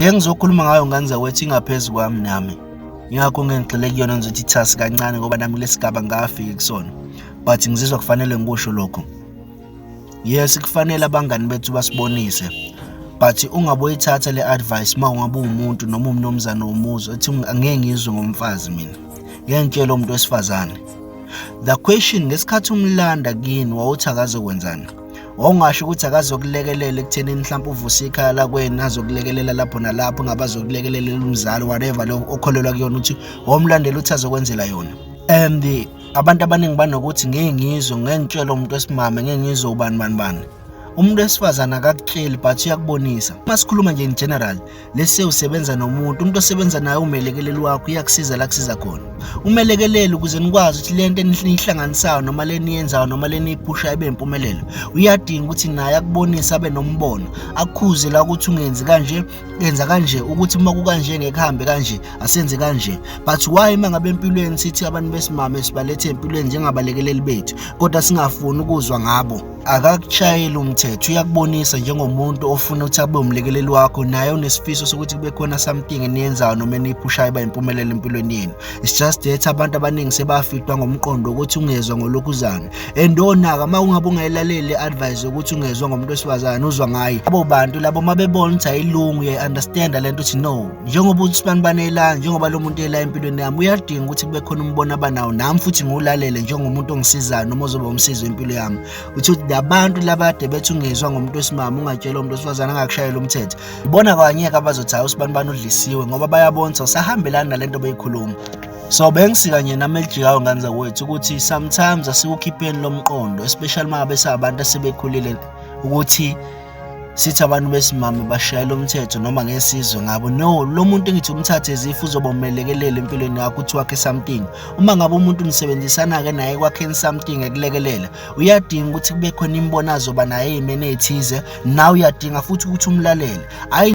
Ngeke ngizokhuluma ngayo ngane zakwethu ingaphezu kwami nami. Ngakho ngeke ngigxile kuyona ngizothi ithasi kancane ngoba nami lesigaba ngafiki kusona. But ngizizwa kufanele ngikusho lokho. Yes kufanele abangani bethu basibonise. But ungaboyithatha le advice uma ungabe umuntu noma umnomzana womuzi ethi ngeke ngizwe ngomfazi mina. Ngeke ngitshele umuntu wesifazane. The question ngesikhathi umlanda kini wawuthakaze kwenzani? wawungasho ukuthi akazokulekelela ekuthenini mhlawumbe uvuse ikhaya lakweni azokulekelela lapho nalapho ngabe azokulekelela umzali whatever lo okholelwa kuyona ukuthi wawumlandela ukuthi azokwenzela yona and abantu abaningi banokuthi ngeke ngizwe ngeke ngitshele umuntu wesimame ngeke ngizwe ubani bani bani umuntu wesifazane akakutsheli but uyakubonisa uma sikhuluma nje in general lese usebenza nomuntu umuntu osebenza naye umelekeleli wakho iyakusiza la kusiza khona umelekeleli ukuze nikwazi ukuthi lento enihlanganisayo noma leniyenzayo noma leniyiphusha ibe impumelelo uyadinga ukuthi naye akubonise abe nombono akukhuze la ukuthi ungenzi kanje yenza kanje ukuthi uma kukanje ngeke hambe kanje asenze kanje but why uma ngabe empilweni sithi abantu besimame sibalethe empilweni njengabalekeleli bethu kodwa singafuni ukuzwa ngabo akakushayeli umthetho uyakubonisa njengomuntu ofuna ukuthi abe umlekeleli wakho naye unesifiso sokuthi kube khona something eniyenzayo noma eniphushayo iba impumelelo empilweni yenu it's just that abantu abaningi sebafitwa ngomqondo ukuthi ungezwa ngolokhuzana and onaka uma ungabe ungayilaleli advice yokuthi ungezwa ngomuntu wesifazane uzwa ngaye abo bantu labo mabebona ukuthi ayilungu uyayi-understanda le nto ukuthi no njengoba uthi sibanibani ela njengoba lo muntu ela empilweni yami uyadinga ukuthi kube khona umbono abanawo nami futhi ngiwulalele njengomuntu ongisizayo noma ozoba umsizi wempilo yami uthi ukuthi labantu labade bethi ungezwa ngomuntu wesimama ungatshela umuntu wesifazane angakushayela umthetho ibona kwanyeke abazothi hayi usibanibani udlisiwe ngoba bayabonisa usahambelani nale nto beyikhuluma so bengisika nje nami elijikayo ngane zakwethu ukuthi sometimes asikukhipheni lomqondo especially uma ngabe sabantu asebekhulile ukuthi sithi abantu besimame bashayela umthetho noma ngesizwe ngabo no lo muntu engithi umthathe ezifu uzoba umelekelele empilweni yakho uthi wakhe something uma ngabe umuntu nisebenzisana-ke naye kwakheni something ekulekelela uyadinga ukuthi kube khona imbonazo ba naye imene ethize nawe uyadinga futhi ukuthi umlalele hhayi